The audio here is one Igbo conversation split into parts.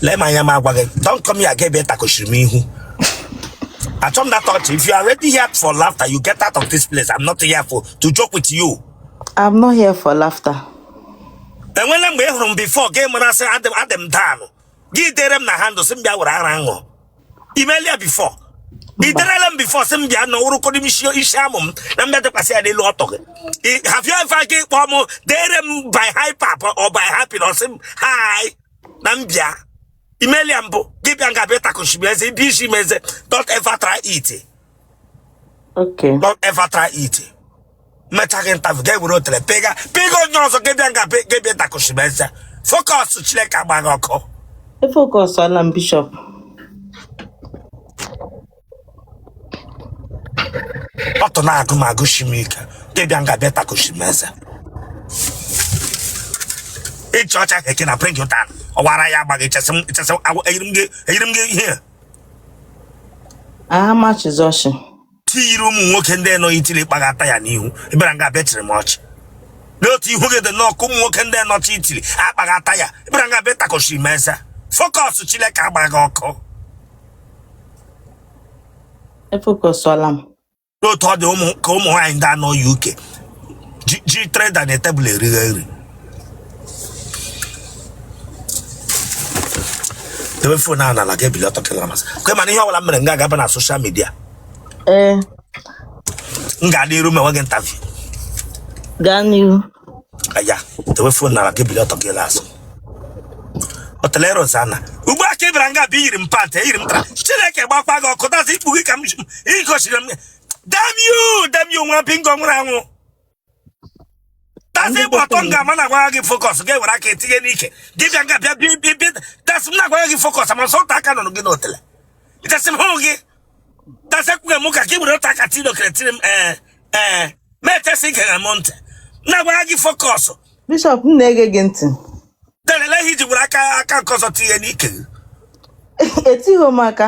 lee m anya m agwa gị don't come here again bịa takochiri m ihu achọ m na touch if you are ready here for laughter you get out of this place i'm not here for to joke with you I'm not here for laughter. enwela mgbe ị hụrụ m before gị mara sị adị m down gị dere m na hand sị m bịa were ara ṅụ imelia before i derela m before sị m bịa na ụrụkọdị m isi isi amụ m na m bịa dịkwasị ya n'elu ọtụ gị I- have you ever gị kpọọ m dere m by hyper or by happiness sị m hi na m bịa imelia mbụ gị bịa nga bịa takoshi m eze bisi m eze don't ever try it Okay. don't ever try it mecha gị ntafụ ga ewere otele pịga pịga onye ọzọ gị bịa nga gị bịa takoshi m eze focus chineke agba gị ọkụ e focusala m Bishop ọtụ na-agụ m agụsi m ike gị bịa nga bịa takoshi m eze ịchị ọchị keke na pring ụta ọwara ya agbaghị ichesị m ichesị m agwa- eyiri m gị eyiri m gị ihe a na-achị ọchị i yiri ụmụ nwoke ndị nọ n'itiri kpaghata ya n'ihu ị bịara nga bịa chịrị m ọchị n'otu ihu gị dị nnọọ ka ụmụ nwoke ndị nọ n'itiri akpaghata ya ị bịara nga bịa takọchiri m eze focus Chineke agba gị ọkụ e focusuola m n'otu ọ dị ụmụ ka ụmụ nwaanyị ndị a nọ na UK ji ji tray dị na table erighe nri debe phone ahụ n'ala gị ebili ọtọ kịlọ m azụ kwe mana ihe ọbụla m mere m ga-agaba na social media ee m ga-adị iru mewe gị ntavi gaa n'iru oya dewe phone n'ala gị bili ọtọ gị n'azụ otele Rosana ugbu a ka ị bịara nga bụ iyiri m pant eyiri m tara chineke gbakwa gị ọkụ that is ikpu gị ka m ji- ị gosiri m damn you damn you nwa bingo nwụrụ anwụ that is ịgba ọtọ nga m na-agwagha gị focus gị ewere aka etinye n'ike gị bịa nga bịa bịa bịa bịa that's m na-agwagha gị focus ma nsọta aka nụrụ gị n'otele ịtasị m hụ gị that's ekwughị m ka gị were otu aka tinye okere tiri m ee ee ma etesị ike na m ntị m na-agwagha gị focus Bishop m na-ege gị ntị lele ihe i ji were aka aka nke ọzọ tinye n'ike gị etighị m aka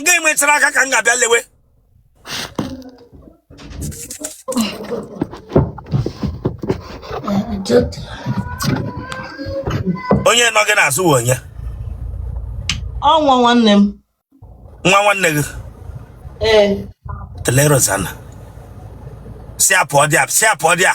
nga i mechara aka ka m ga-abịa lewe onye nọ gị n'azụ wụ onye ọ nwa nwanne m nwa nwanne gị ee otele Rosana si apụ ọ dị a si apụ ọ dị a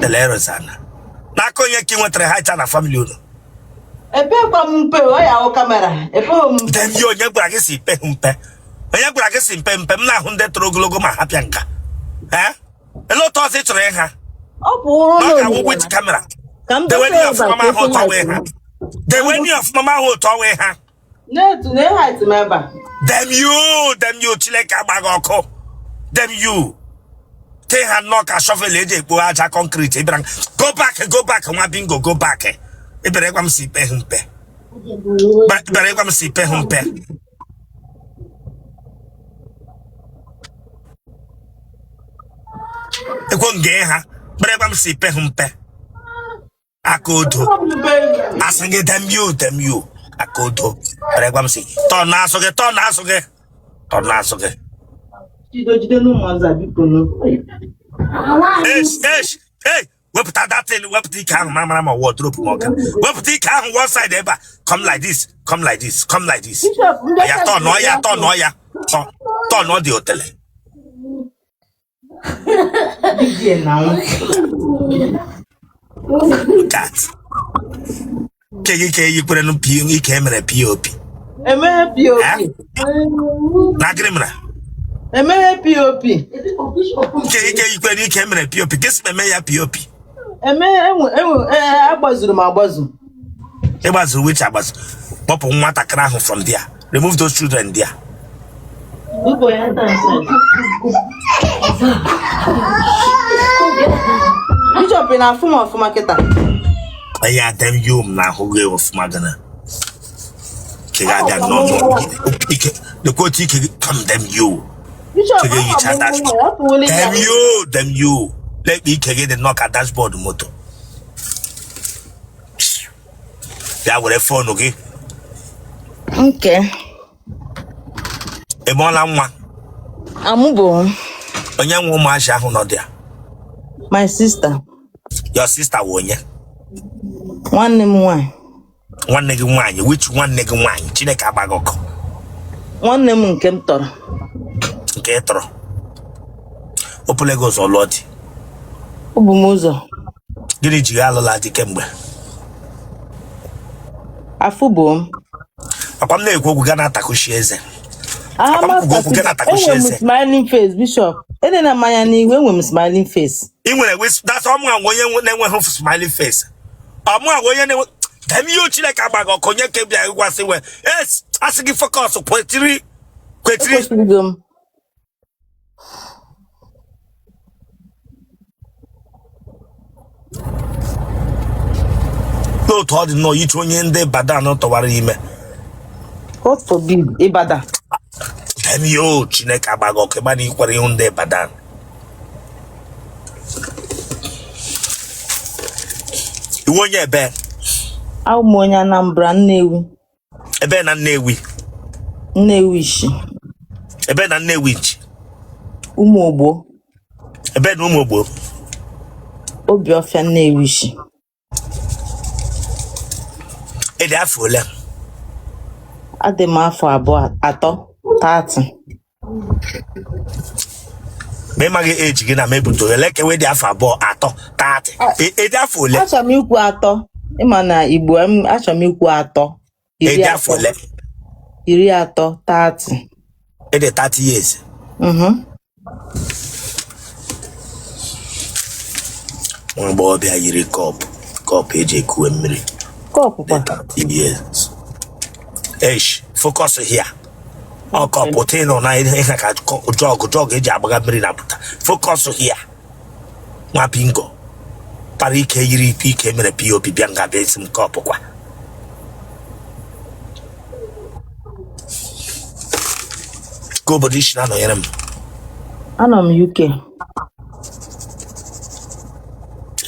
Delerozana. N'aka onye ka ị nwetara height a na famili unu? epekwa m mpe ọ wụ kamera epeghị m mpe dem you onye gwara gị si i pehụ mpe. Onye gwara gị si i pe mpe m na-ahụ ndị toro ogologo ma ha bịa nga a. Ee? Ele otu ọzọ ị chọrọ ịha? ọ bụ ụrụ Na ọ ga-awụ n'oyibo wit kamera. ka m Dewe dozie n'ihe ọfụma ma ahụ otu ọwa ịha. Dewe n'ihe ọfụma ma ahụ otu ọwa ịha. na-etu na height m ebe a dem you dem you chineke agbaa gị ọkụ dem you ị ha nnọọ ka shọvel eji ekpo aja kọnkriti ịbịara m, go back go back nwa bingo go back ịbịara ịgwa m si i pehụ mpe Ba- ịbịara ịgwa m si i pehụ mpe ekwo nge ha bịara ịgwa m si i pehụ mpe aka odo asị gị dem you dem you aka odo bịara ịgwa m sị tọnụọ azụ gị tọnụọ azụ gị tọnụọ azụ gị esh esh hey wepụta that thing wepụta ike ahụ mara mara ma wardrobe m ọka wepụta ike ahụ one side ebe a come like this come like this come like this ya tọnụọ ya tọnụọ ya tọ tọnụọ dị otele nke gị ka eyikwere ike emere pop emeghe pop na gịnị mere emeghe pop nke gị ka eyikwere ike emere pop gị si eme ya pop eme enwe enwe ee, agbazuru m agbazu ịgbazuru which agbazu kpọpụ nwatakịrị ahụ from there remove those children there Igbo ya taa nsị. Bishọp ị na-afụ m ọfụma kịta ya dem you m na-ahụ gị ọfụma gana keghe abịa nọ ike lekwa otu ike kam dem you ike gị yicha dashbọọdụ dem you dem you lekwa ike gị dị nnọọ ka dashbọọdụ moto bịa were fonu gị nke ị mụọla nwa amụbo onye nwe ụmụazị ahụ nọ there my sister your sister wụ onye nwanne m nwanyị nwanne gị nwaanyị which nwanne gị nwaanyị chineke agbaa gị ọkụ nwanne m nke m tọrọ nke ị tọrọ o bule gị ụzọ lụọ di o bu m ụzọ gịnị ji gị alụla di kemgbe afụbo m ọ kwa m na-ekwu okwu gị na-atakushi eze aha Akwa m kwugo okwu gị na-atakushi enwe m eze smiling face bishop ede na mmanya n'ihu enwe m smiling face ị nwere wis- that's all m nwa onye nwe- na-enweghị smiling face ọmụ agwa onye na-enwe damn you chineke agba gị ọkụ onye ka bịa gwasị we es asị gị focus kwetiri kwetiri ekwesịrịgo m n'otu ọ dị nnọọ iche onye ndị ibadan tụwara ime god forbid ibadan damn you chineke agba gị ọkụ ị ma na ikwere ihu ndị ibadan ị wụ onye ebe Abụ m onye Anambra, Nnewi. ebe na nnewi Nnewichi. ebe na nnewichi Ụmụ Ogbo, ebe na ụmụ ogbo Obiọfịa Nnewichi. ị dị afọ ole adị m afọ abụọ atọ 30 ma ị maghị age gị na m ebute ole kewe dị afọ abụọ atọ 30 ị dị afọ ole achọrọ m ikwu atọ ị ma na igbo m achọrọ m ikwu atọ iri ị dị afọ atọ ole iri atọ 30 ị dị 30 years Mhm. nwa agbọghọbịa yiri cup cup eji ekuwe mmiri cup dị kwa 30 years esh focus here ọ cup tịnụ na ihe ka jug jug eji agbaga mmiri na pụta focus here nwa bingo kpara ike yiri ike ike mere pop bịa nga bịa sị m cup kwa kee obodo i si na-anọnyere m anọ m uk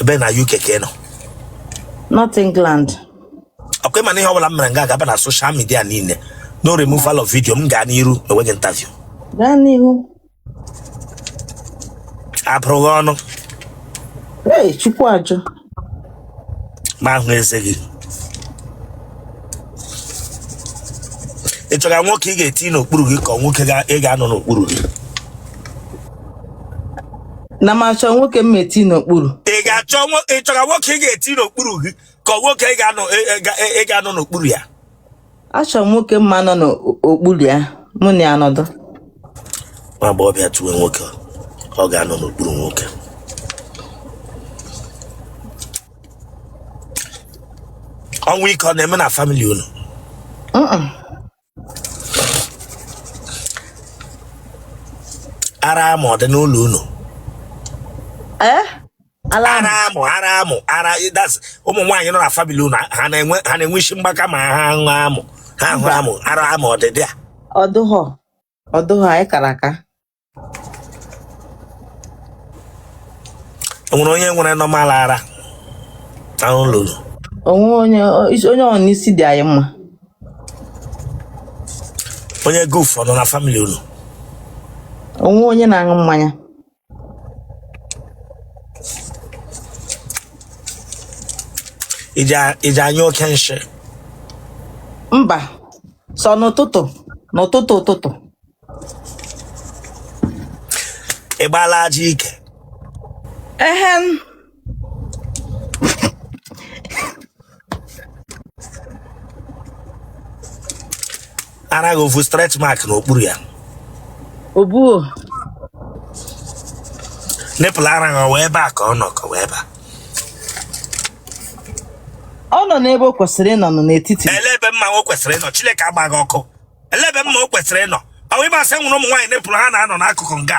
ebe na uk ka ị nọ north england ọkwa ị ma na ihe ọbụla m mere nga a ga-aba na social media niile no removal of video m gaa n'iru mewe gị interview gaa n'ihu apụrụ gị ọnụ Hey, Chukwu ajụ. ma ahụ eze gị ị chọga nwoke ị ga-eti n'okpuru gị ka ọ nwoke ga- ị ga-anọ n'okpuru gị Na m achọ nwoke m ma-eti n'okpuru. ị ga-achọ nwo- ị chọga nwoke ị ga-eti n'okpuru gị ka ọ nwoke ị ga-anọ ị- ị ga- ị ga-anọ n'okpuru ya achọrọ m nwoke m ma-anọ n'okpuru ya mụ na-anọdụ nwa agbọghọbịa tuwe nwoke ọ ga-anọ n'okpuru nwoke ọnwụ ike ọ na-eme na family unu ara amụ ọ dị n'ụlọ unu ee ara amụ ara amụ ara that's ụmụ nwaanyị nọ na family unu ha na-enwe ha na-enwe isi mgbaka ma ha ṅụọ amụ ha hụ amụ ara amụ ọdịdị a ọdụghọ ọdụghọ anyị kara aka enwere onye nwere normal ara na ụlọ o nwe onye onye ọ n'isi dị anyị mma onye guf ọ nọ na family unu o nwe onye na-aṅụ mmanya ị ji a- ị ji anyụ oke nshị mba sọ n'ụtụtụ n'ụtụtụ ụtụtụ ị gbaala ajị ike ehem ara gị ofu stretch mark n'okpuru ya obuo nipple ara gị ọ wụ ebe a ka ọ nọ ka ọ wụ ebe a ọ nọ n'ebe o kwesịrị ịnọ nọ n'etiti ele ebe mma o kwesịrị ịnọ chineke agba gị ọkụ ele ebe mma o kwesịrị ịnọ ọ wụ ị ma sị e nwere ụmụ nwaanyị nipple ha na-anọ n'akụkụ nga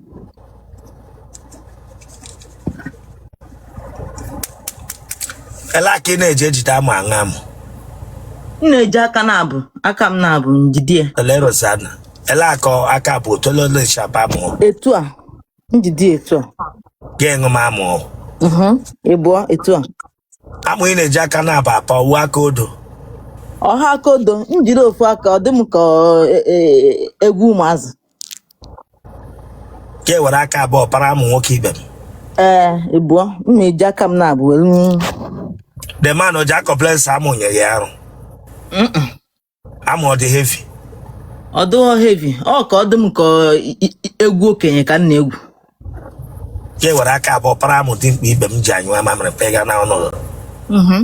Ele aka ị na-eji ejide amụ aṅụ amụ. m na-eji aka n'abụọ aka m n'abụọ njide ya Ele Rosanna. Ele akọ aka bụ otololo shaba amụ. etu a njide ya etu a Ga-eṅụ m amụ. Mhm, ịbụọ etu a Amụ ị na-eji aka n'abụọ apa ọ wụ aka odo. ọ ha aka odo m jiri ofu aka ọ dị m ka ọ- e- e- egwu ụmụazị Ka e were aka abụọ para amụ nwoke ibe m. ee ịbụọ m na-eji aka m n'abụọ were The man o ji a-complain sị amụ nyịrị ya arụ. amụ ọ dị heavy ọ dịghọ heavy ọ ka ọ dị m ka ọ- i- i- i- egwu okenye ka m na-egwu ya ewere aka abụọ para amụ dimkpa ibe m ji anyụ amamịrị pega na ọnọdụ Mhm.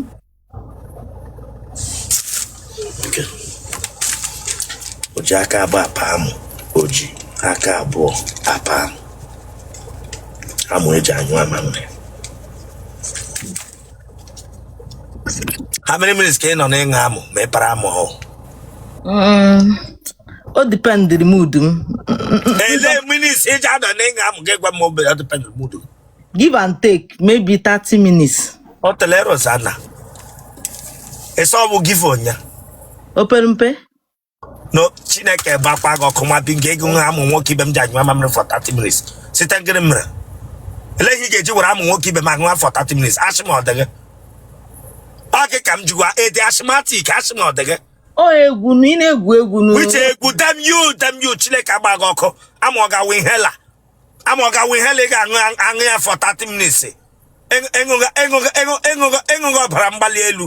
Nke. o ji aka abụọ apa amụ o ji aka abụọ apa amụ amụ e ji anyụ amamịrị how many minutes ka ị nọ n'ịṅụ amụ ma ị para amụ hụ Mm, o dependịrị mood m ele minutes ị ji anọ n'ịṅụ amụ gị gwa m obere ọ dependị mood m give and take maybe 30 minutes o tele Rosanna ị sị ọ bụ gị fon ya o pere mpe no chineke gbakwa gị ọkụ ma bi nke ego nwa amụ nwoke ibe m ji anyụ amamịrị for 30 minutes site ngịrị mere ele ihe ị ga-eji were amụ nwoke ibe m aṅụwa for 30 minutes asị m ọ dịghị ọ gị ka m jikwa ede asịmatik asị m ọ dịghị ọ egwu na ị na-egwu egwu which egwu damn you damn you chineke agba gị ọkụ amụ ọ ga-awụ ihe la amụ ọ ga-wụ ihe ị ga-aṅụ ya for 30 minutes ịṅụghị ọbara mgbali elu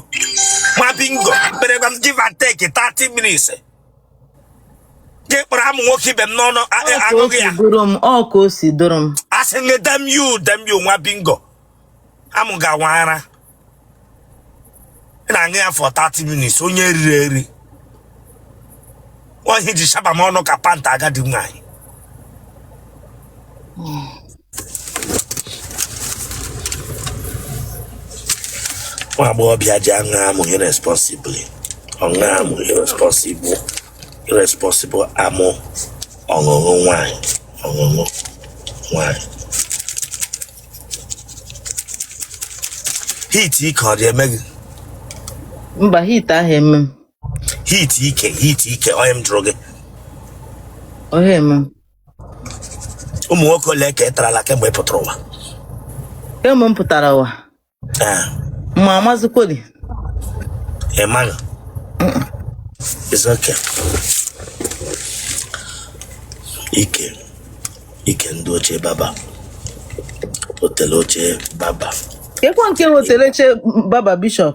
nwa bingo mkperegwa m give and take 30 minutes gị kpọrọ amụ nwoke ibe m n'ọnụ aṅụghị ya ọ ka o si doro m asị gị damn you damn you nwa bingo amụ ga-awa ara ị na-aṅụ ya for 30 minutes onye riri eri nwaanyị ji shaba m ọnụ ka pant agadi nwaanyị nwa agbọghọbịa ji aṅụ amụ irresponsibly ọṅụ amụ irresponsible irresponsible amụ ọṅụṅụ nwaanyị ọṅụṅụ nwaanyị heat ike ọ dị eme gị mba heat ahụ eme m heat ike heat ike onye m jụrụ gị ọ hụ eme m ụmụ nwoke ole ka ị tarala kemgbe ị pụtara ụwa kemgbe m pụtara ụwa ma amazikweli ịmaghị it's okay ike ike ndị ochie baba otele ochie baba kekwa nke otele ochie baba bishọp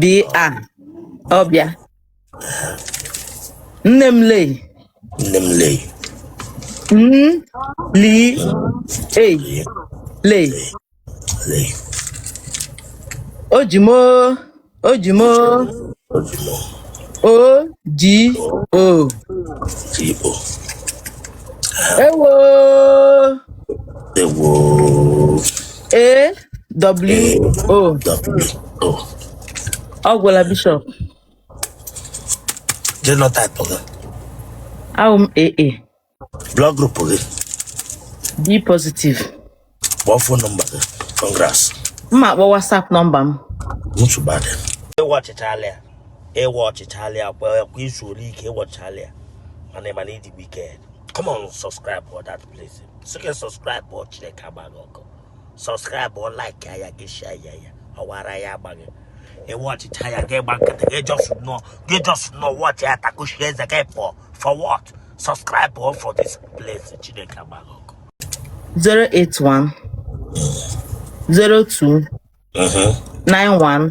bi a ọbịa nne m lee nne m lee m li e lee lee lee o ji m o o ji m o ojimo o ji o ti o ewo ewo A W O. AWO. Ọ gwụla bishọp. Genotype gị. Awụ m AA. Blood group gị. B positive. Kpọọ phone number gị. Congrats. M ma-akpọ WhatsApp nọmba m. Nsogbu adị. Ị watchịchaala ya. Ị watchịchaala ya. Kwa i zuole ike ị watchịchaala ya. Mana ị ma na ị dị wicked. Come on, subscribe for that. place so gị subscribe ọ chineke agba gị ọkụ subscribe ọ like ya gị share ya ya ọ wụ ara ya agba gị ị watchịcha ya gị gba nkịtị gị just nọ gị just nọ watch ya takushi eze gị pụọ for what subscribe ọ for this place chineke agba gị ọkụ 081 02 91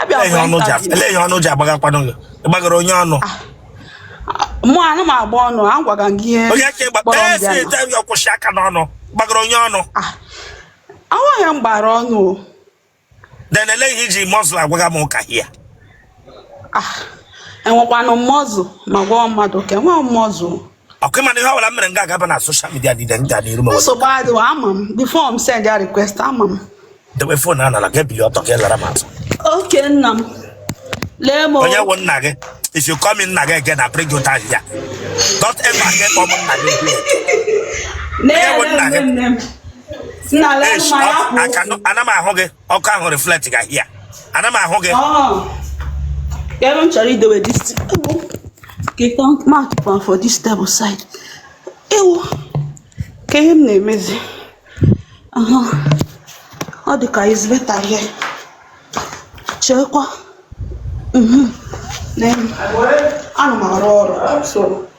abịa for interview. elee ihe ọnụ ji agbagakwanụ gị ị gbagara onye ọnụ mụ anụ m agba ọnụ a gwaga m gị ihe onye ka ịgba kpọrọ m ee bịa si na- ete ya kwụsị aka n'ọnụ gbagara onye ọnụ Ah, awụghị ya m gbara ọnụ o. then elee ihe i ji muscle agwaga m ụka here Ah, enwekwanụ m muscle ma gwa mmadụ ka enweghị m muscle okay mana ihe ọbụla m mere m ga-agaba na social media dị m ga n'iru ma nsogbu adịghị ama m before m send ya request ama m dewe phone n'ala ga ebili ọtọ ka ị lara m azụ okay nna m lee m onye wụ nna gị if you call me nna gị again I bring you down here don't ever again call m nna gị again onye wụ nna gị nna lee m ma ya kwụ ana m ahụ gị ọkụ ahụ reflect ga here ana m ahụ gị ebe m chọrọ idowe this kịta mark pan for this table side ewu kee ihe m na-emezi ọ dị ka it's better here cheekwa mhm. ana m arụ ọrụ